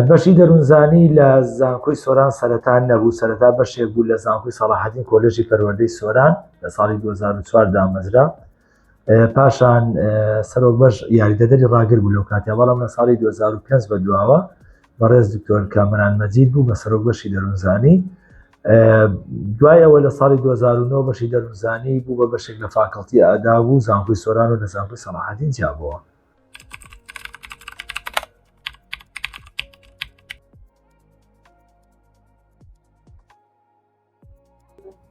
بەشی دەروونزانی لە زانکۆی سۆران سەرەتان نەبوو سەرەتا بەشێک بوو لە زانکۆی سەڵاحەتین کۆلژی پەروەردەی سۆران لە ساڵی 2004 دامەزرا پاشان سەرۆک بەش یاریدەدەری ڕاگر بوو لەو کاتیا بەڵام لە ساڵی 2005 بە دواوە بەڕێز دکتۆر کامران مەجید بوو بە سەرۆک بەشی دەروونزانی دوایەوە لە ساڵی 2009 بەشی دەروونزانی بوو بە بەشێک لە فاکەڵتی ئادا بوو زانکۆی سۆران و لە زانکۆی سەڵاحەدین جیابەوە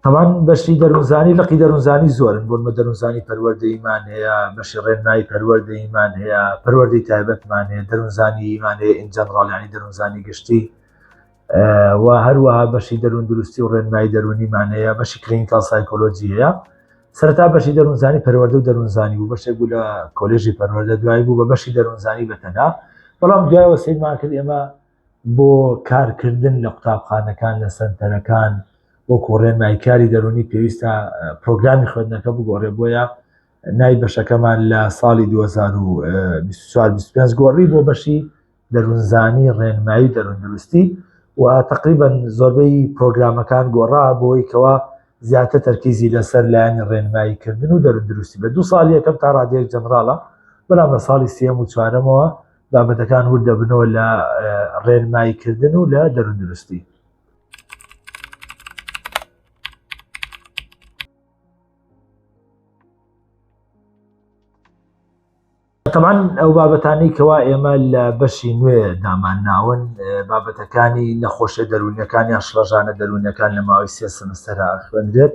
هەمان بەشی دەروزانی لەقی دەروزانی زۆرن بۆن بە دەروزانی پەروەردەیمان هەیە بەشی ڕێنمایی پەروەردەیمان هەیە پەروەردەی تایبەتمان هەیە دەروزانی ئیمان هەیە ئینجانڕاڵانی دەروزانی گشتی و هەروەها بەشی دەروون دروستی و ڕێنمایی دەرونیمان هەیە بەشی کلینکال سایکۆلۆجی هەیە سەرتا بەشی دەروزانی پەروەەردە و دەروزانی بوو بەشێک بوو لە کۆلێژی پەروەەردە دوای بوو بە بەشی دەروزانی بەتەنها بەڵام دوایەوە سیرمان کرد ئێمە بۆ کارکردن لە قوتابخانەکان لە سەنتەرەکان وەکو ڕێنمای کاری دەرونی پێویستە پرۆگرامی خوێندنەکە بگۆڕێ بۆیە نای بەشەکەمان لە ساڵی 2024 گۆڕی بۆ بەشی دەروونزانی ڕێنمایی دەروندروستی و تقریبا زۆربەی پرۆگرامەکان گۆڕا بۆی کەوا زیاتر تەرکیزی لەسەر لایەنی ڕێنمایی کردن و دەروندروستی بە دو ساڵ یەکەم تا ڕادێک جەنراڵە بەڵام لە ساڵی سێم و چوارەمەوە بابەتەکان ورد دەبنەوە لە ڕێنماییکردن و لە دەرودروستی تەمان ئەو بابەتانی کەوا ئێمە لە بەشی نوێ دامان ناون بابەتەکانی نەخۆشە دەروونەکان یا شڵەژانە دەروونەکان لە ماوەی سێ سمستەرا خوێنرێت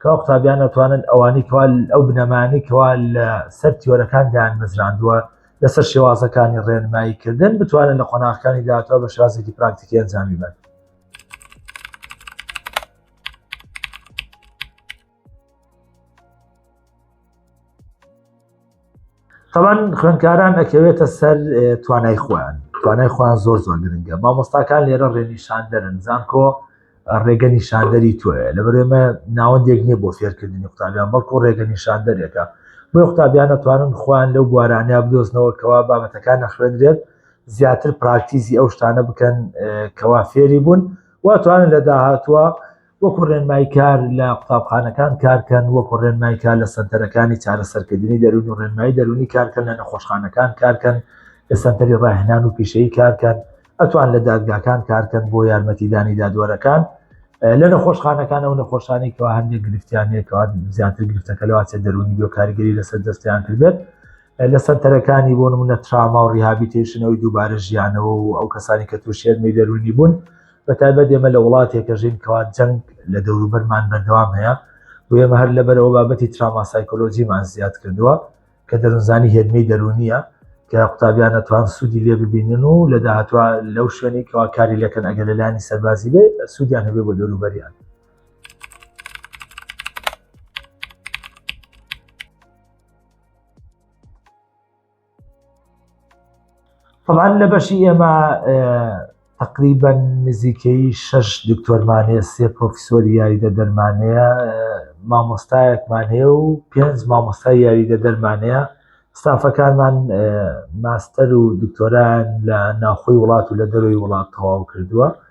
کوا قوتابیان ئەتوانن ئەوانەی کوا ئەو بنەمانەی کوا لە سەر تیۆرەکان دایانمەزراندووە لەسەر شێوازەکانی ڕێنمایی کردن بتوانن لە قۆناغەکانی داهاتوە بە شازێکی پراکتیکی ئەنجامی بن تەوان خوێنکاران ئەکەوێتە سەر توانای خۆیان توانای خۆیان زۆر زۆر گرنگە مامۆستاکان لێرە ڕێنیشان دەرن زانکۆ ڕێگە نیشاندەری تۆیە لە بەرێمە ناوەندێک نییە بۆ فێرکردنی قوتابیان بەڵکو ڕێگە نیشاندەرێکە بۆ قوتابیان نەتوانن خۆیان لەو بوارانیا بدۆزنەوە کەوا بابەتەکان نەخوێنرێت زیاتر پراکتیزی ئەو شتانە بکەن کەوا فێری بوون واتوانن لە داهاتوە وەکو ڕێنمای کار لە قوتابخانەکان کارکەن، وەکو ڕێنمای کار لە سەنتەرەکانی چارەسەرکردنی دەروون و ڕێنمایی دەروونی کارکەن لە نەخۆشخانەکان کارکەن، لە سەنتەری ڕاهێنان و پیشەیی کارکەن، ئەتوان لە دادگاکان کارکەن بۆ یارمەتیدانی دادوەرەکان. لە نەخۆشخانەکان ئەو نەخۆشانی کەوا هەندێک گرفتیانەیە کەوا زیاتر گرفتەکە لەواچێ دەرونی بۆ کاریگەری لەسەر دەستیان کردێت لە سەنتەرەکانی بۆ نمونە تراما و ریهابیتێشنەوەی دووبارە ژیانەوە و ئەو کەسانی کە تووشێرمی دەرونی بوون بەتایبەت ئێمە لە وڵاتێکە ژین کەوا جەنگ لە دەوروبەرمان بەردەوام هەیە و ئێمە هەر لەبەرەوە بابەتی تراما سایکۆلۆژیمان زیاد کردووە کە دەروونزانی هێدمەی دەرونیە کە قوتابیان نەتوان سوودی لێ ببینن و لە داهاتوە لەو شوێنی کەوا کاری لەکەن ئەگەر لەلانی سەربازی بێ سوودیان هەبێ بۆ دەوروبەریان طبعا لە بەشی ئێمە تقریبا نزیکەی شش دکتۆرمان هەیە سێ پرۆفیسۆر یاریدە دەرمانەیە مامۆستایەکمان هەیە و پێنج مامۆستای یاریدە دەرمانەیە ستافەکانمان ماستەر و دکتۆران لە ناوخۆی وڵات و لە دەروی وڵات تەواو کردووە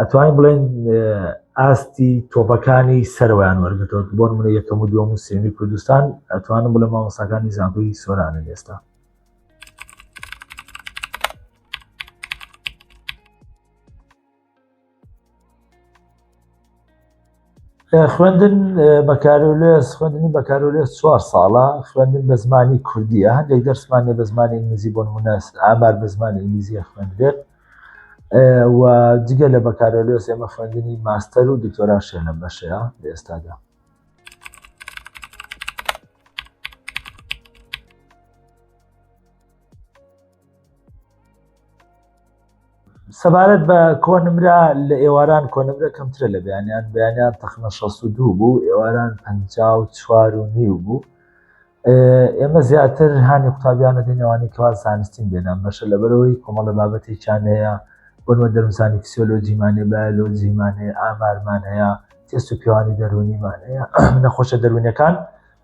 ئەتوانین بڵێن ئاستی تۆپەکانی سەروان وەرگتەوە بۆن منە یەکەم و دووەم و سێمی کوردستان ئەتوانم بڵێ مامۆساکانی زانکۆی سۆرانە ئێستا خوێندن بەکارۆلێس خوێندنی بەکارۆلێس چوار ساڵە خوێندن بە زمانی کوردیە هەندێک دەرسمانێ بە زمانی ئینگلیزی بۆن مناس ئامار بە زمانی ئینگلیزیە خوێندێت و جگە لە بەکارۆلێس ئێمە خوێندنی ماستەر و دکتۆرا شێنە بەشەیە لە ئێستادا سەبارەت بە کۆنمرە لە ئێواران کۆنمرە کەمترە لە بەیانیان بەیانیان تەخمە 16 بوو ئێواران 54 و نیو بوو ئێمە زیاتر هاانی قوتابیانە دێنەوانی کەوا زانستین بێنان بەشە لەبەرەوەی کۆمەڵە بابەتێکیان هەیە بۆنوە دەرمزانی فسیۆلۆجیمانێ بایلۆجیمانێ ئامارمان هەیە تێست و پیوانی دەرونیمان هەیە نەخۆشە دەروونەکان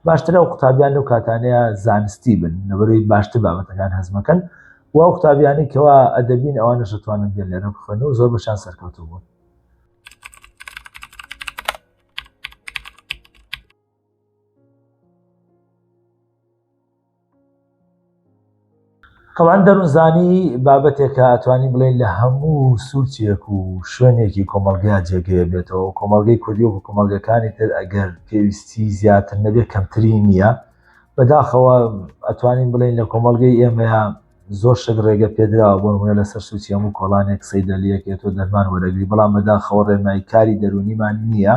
باشترە و قوتابیان و کاتانەیە زانستی بن لەبەروی باشتر بابەتەکان هەزمەکەن و ئەو قوتابیانی کەوا ئەدەبین ئەوان نەشتوانن بێن لێرە بخوێن و زۆر بەشان سەرکەوتو بوون تەوان دەروونزانی بابەتێکە ئەتوانی بڵێن لە هەموو سوچێک و شوێنێکی کۆمەلگا جێگەیە بێتەوە کۆمەلگەی کوردی و کۆمەلگەکانی تر ئەگەر پێویستی زیاتر نەبێت کەمتری نییە بەداخەوە ئەتوانین بڵێن لە کۆمەلگەی ئێمەیان زۆر شت ڕێگە پێدراوە بۆ نمونە لەسەر سوچی هەموو کۆڵانێک سەیدەلیەک تۆ دەرمان وەرەگری بەڵام بەداخەوە ڕێنمایی کاری دەرونیمان نییە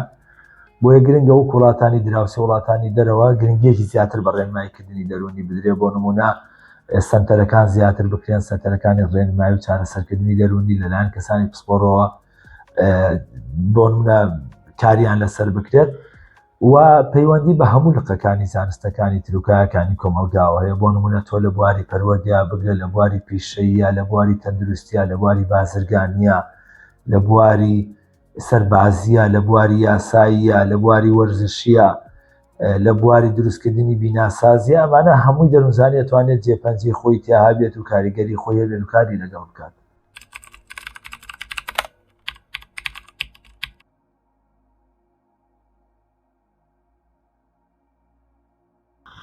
بۆیە گرنگە و کوڵاتانی دراوسێ وڵاتانی دەرەوە گرنگێکی زیاتر بە ڕێنماییکردنی دەرونی بدرێ بۆ نمونە سنتەرەکان زیاتر بکرێن سنتەرەکانی ڕێنمای و چارەسەرکردنی دەرونی لەلایەن کەسانی پسپۆڕەوە بۆ نمونە کاریان لەسەر بکرێت و پەیوەندی بە هەموو لقەکانی زانستەکانی تروکایەکانی کۆمەلگاوە هەیە بۆ نمونە تۆ لە بواری پەروەردە بگرە لە بواری پیشەیە لە بواری تەندروستیا لە بواری بازرگانیە لە بواری سەربازیە لە بواری یاساییە لە بواری وەرزشیە لە بواری دروستکردنی بیناسازی ئەمانە هەمووی دەروزانانی توانێت جێپەنجی خۆی تیاهابێت و کاریگەری خۆی هەبێت و کاری لەگەڵ بکات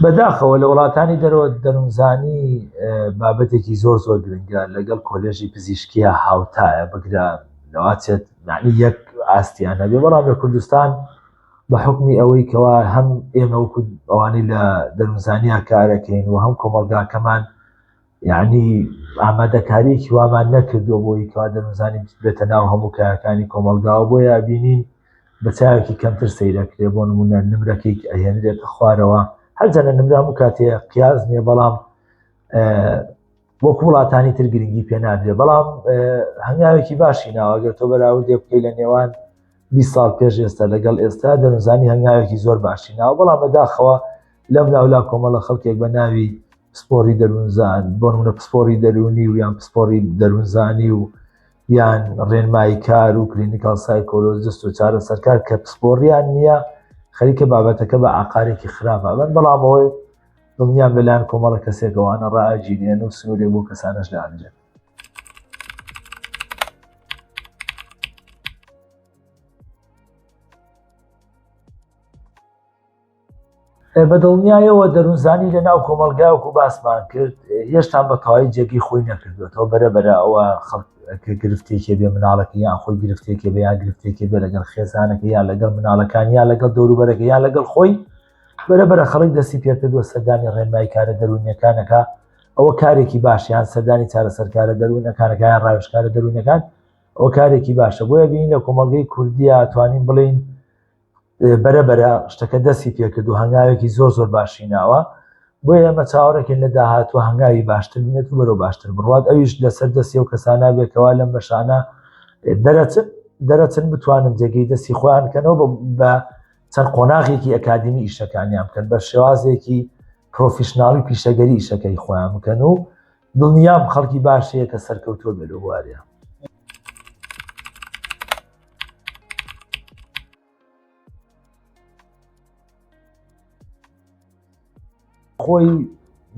بەداخەوە لە وڵاتانی دەرەوە دەروونزانی بابەتێکی زۆر زۆر گرنگە لەگەڵ کۆلێژی پزیشکیە هاوتایە بگرە لەواتێت معنی یەک ئاستیان نەبێ بەڵام لە کوردستان بە حکمی ئەوەی کەوا هەم ئێمە ئەوانی لە دەروونزانیا کارەکەین و هەم کۆمەلگاکەمان یانی ئامادەکاریەکی وامان نەکردووە بۆی کەوا دەمزانین بێتە ناو هەموو کارەکانی کۆمەلگاوە بۆ یابینین بە چاوێکی کەمتر سەیرەکرێ بۆ نمونە نمرەکەی ئەهێنرێتە خوارەوە هەرجەنە نمرام و کاتێ قیاز نیە بەڵام وەکو وڵاتانی تر گرنگی پێ نادرێ بەڵام هەنگاوێکی باشی ناوەگەر تۆ بەراوردێ بکەی لە نێوان 20 سال پێش ئێستا لەگەڵ ئێستا دەنوزانی هەنگاوێکی زۆر باشی ناو بەڵام بەداخەوە لەم لاولا کۆمەڵە خەڵکێک بە ناوی پسپۆری دەروونزان بۆ منە پسپۆری دەرونی و یان پسپۆری دەروونزانی و یان ڕێنمایی کار و کلینیکال سایکۆلۆجست و چارە سەرکار کە پسپۆریان نییە خەریکە بابەتەکە بە ئاقارێکی خراپە بەن بەڵامەوەی دڵنیان بەلایەن کۆمەڵە کەسێکەوانە ڕاجیێن و سنوورێک بۆ کەسانش دانرێت بە دڵنیایەوە دەروونزانی لە ناو کۆمەلگاوک و باسمان کرد هێشتان بە تەواوی جێگەی خۆی نەکردوێتەوە بەرە بەرە ئەوە خەڵک گرفتێکی بێ مناڵەکە یان خۆی گرفتێکی بە یان گرفتێکی بێ لەگەڵ خێزانەکە یا لەگەڵ مناڵەکان یا لەگەڵ دەوروبەرەکە یا لەگەڵ خۆی بەرە بەرە خەڵک دەستی پێکردوە سەردانی ڕێنمای کارە دەروونیەکانەکە ئەوە کارێکی باشیان سەردانی چارەسەرکارە دەروونەکانەکان ڕاوشکارە دەروونەکان ئەو کارێکی باشە بۆیە بین لە کۆمەڵگەی کوردیا توانین بڵین بەرە بەرە شتەکە دەستی پێکرد و هەنگاوێکی زۆر زۆر باشی ناوە بۆ ئێمە چاوەڕێکن لە داهاتوە هەنگاوی باشتر بێت و بەرەو باشتر بڕات ئەویش لەسەر دەستی و کەسانە بێکەوە لەم بەشانە دەرەچن دەرەچن بتوانن جێگەی دەستی خۆیان کەنەوە بە چەند قۆناغێکی ئەکادمی ئیشەکانیان بکەن بە شێوازێکی پرۆفیشنناڵی پیشەگەری ئیشەکەی خۆیان بکەن و دڵنیام خەڵکی باش هەیە کە سەرکەوتووە بێت لە بوارەیە خۆی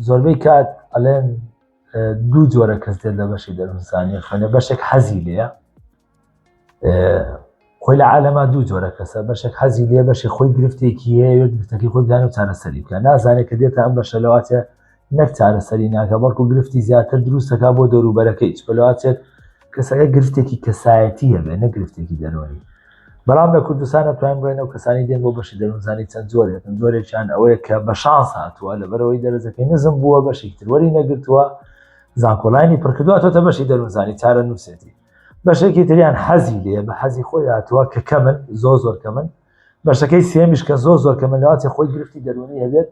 زۆربەی کات ئەلێن دوو جۆرە کەس دێت لە بەشی دەرمزانانی خوێنە بەشێک حەزی لەیە خۆی لە عالەما دوو جۆرە کەسە بەشێک حەزی لێ بەشی خۆی گرفتێکی هەیە گرفتەکەی خۆی دانە چارەسەری بکە نازانێت کە دێتە ئەم بەشە لەواتە نەک چارەسەری ناکە بەڵکو گرفتی زیاتر دروستەکە بۆ دەوروبەرەکەی چپلواتێت کەسەکە گرفتێکی کەسایەتی هەبێ نە گرفتێکی دەرۆنی بەڵام لە کوردستانە توان بڵێن و کەسانی دێن بۆ بەشی دەروونزانی چەند جۆرێتن جۆرێکیان ئەوەیە کە بە شانس هاتووە لە بەرەوەی دەرەجەکەی نزم بووە بەشی تروەری نەگرتووە زانکۆلانی پڕکردواتۆتە بەشی دەروونزانی چارە نووسێتی بەشێکی تریان حەزی لێ بە حەزی خۆی هاتووە کە کەمن زۆ زۆر کەمن بەشەکەی سێمیش کە زۆ زۆر کەمن لەواتی خۆی گرفتی دەرونی هەبێت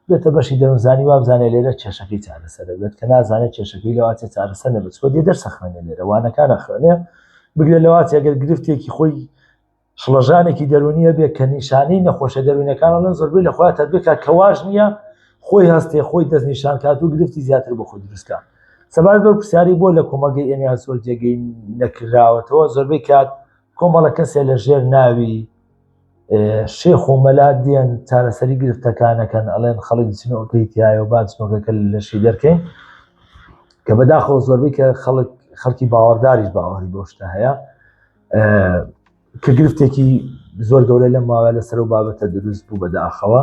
بێتە بەشی دەروزانی وابزانێ لێرە کێشەکەی چارەسەر دەبێت کە نازانێت کێشەکەی لەواتی چارەسەر نەبێت خۆ دێ دەرسە خوێنێ لێرە وانەکانە خوێنێ بگرێت لەواتی ئەگەر گرفتێکی خۆی شڵەژانێکی دەرونیە بێ کە نیشانەی نەخۆشە دەرونەکانە لەن زۆربەی لە خۆیان تەربێکا کە واش نییە خۆی هەستێ خۆی دەست نیشان کات و گرفتی زیاتر بۆ خۆی دروستکە سەبار بەر پرسیاری بۆ لە کۆمەلگەی ئێمە زۆر جێگەی نەکراوەتەوە زۆربەی کات کۆمەڵە کەسێ لە ژێر ناوی شێخ و مەلا دێن چارەسەری گرفتەکانەکەن ئەڵێن خەڵک چنەوەکەی تایە و باچنەکەکە لەشی دەرکەین کە بەداخەوە زۆربەی کە خەڵک خەڵکی باوەڕداریش باوەڕی بۆشتە هەیە کە گرفتێکی زۆر گەورە لەم ماوە لە سەر و بابەتە دروست بوو بەداخەوە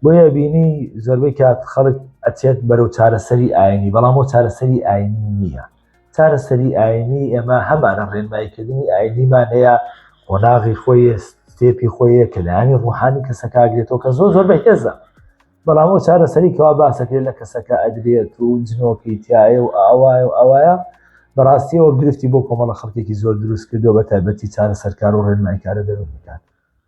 بۆیە بینی زۆربەی کات خەڵک ئەچێت بەرەو چارەسەری ئاینی بەڵام بۆ چارەسەری ئاینی نییە چارەسەری ئاینی ئێمە هەمانە ڕێنماییکردنی ئاینیمان هەیە قۆناغی خۆی ستێپی خۆیە کە لایانی ڕوحانی کەسەکگرێتەوە کە زۆر زۆر بە هێزە بەڵام ئەو چارەسەری کەوا باسەکرێت لە کەسەکە ئەدرێت و جنۆکەی تایە و ئاوایە و ئاوایە بەڕاستیەوە گرفتی بۆ کۆمەڵە خەڵکێکی زۆر دروست کردو بە تایبەتی چارە سەرکار و ڕێنمایکارە دەرونەکان